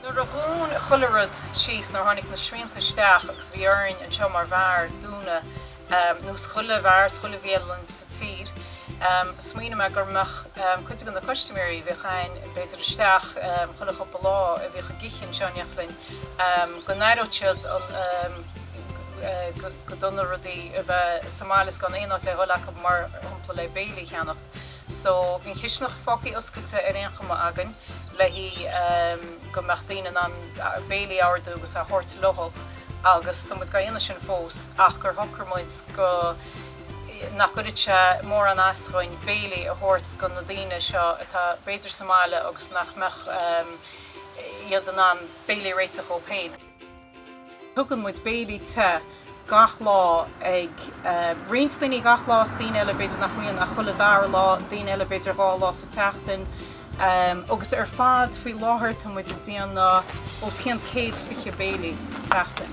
Nuair a dhún chuile rud síos, nuair a tháinig na srianta isteach agus bhí orainn, anseo mar bheár, dúnadh, nós chuile bheár is chuile bhialann sa tír. Smaoinigh mé go mbeadh cuid de na custaiméirí a bhíodh againn b'fhéidir isteach chuile chupla lá a bhíodh ag ithe anseo in éineacht linn go n-aireodh siad go dona rudaí a bheith sa mbaile is gan aon áit le dhul acu mar shampla le béilí a cheannacht. So, bhí an chistineach fágtha oscailte ar aon chuma againn le hí go mbeadh daoine in ann béilí a ordú agus a thabhairt leothub agus tá muid dhá dhéanamh sin fós ach gur shocair muid go nach gcuirfeadh sé mórán as dhúinn béilí a thabhairt dho na daoine seo atá b'fhéidir sa mbaile agus nach mbeadh iad in ann béilí a réiteach dhóib féin. Tugann muid béilí te gach lá ag roinnt daoine gach lá is daoine eile b'fhéidir nach mbíonn ach chuile dara lá, daoine eile b'fhéidir dhá lá sa tseachtain agus ar fad faoi láthair tá muid ag déanamh os cionn céad fiche béile sa tseachtain.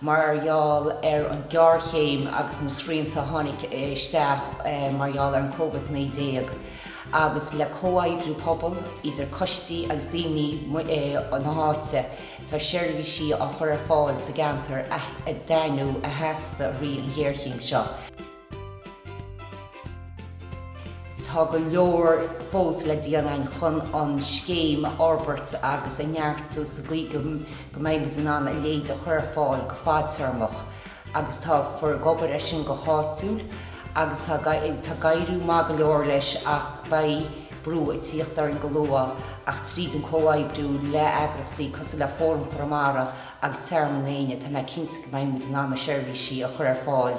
mar gheall ar an ghéarchéim agus na srianta a tháinig isteach mar gheall ar an Covid-19 agus le comhoibriú pobal idir coistí agus daoine na háite tá seirbhísí á chur ar fáil sa gceantar atá in easnamh a theastaigh i rith an ghéarchéim seo. Tá go leor fós le déanamh chun an scéim a fhorbairt agus a neartú sa gcaoi go mbeidh muid in ann a leithéid a chur ar fáil go fadtéarmach agus tá Forum ag obair air sin go háitiúil agus tá ag éirí maith go leor leis ach beidh brú ag tíocht orainn go luath ach tríd an comhoibriú le eagrachtaí cosúil le Fóram Chonamara agus Tearmann Éanna tá mé cinnte go mbeidh muid in ann na seirbhísí a chur ar fáil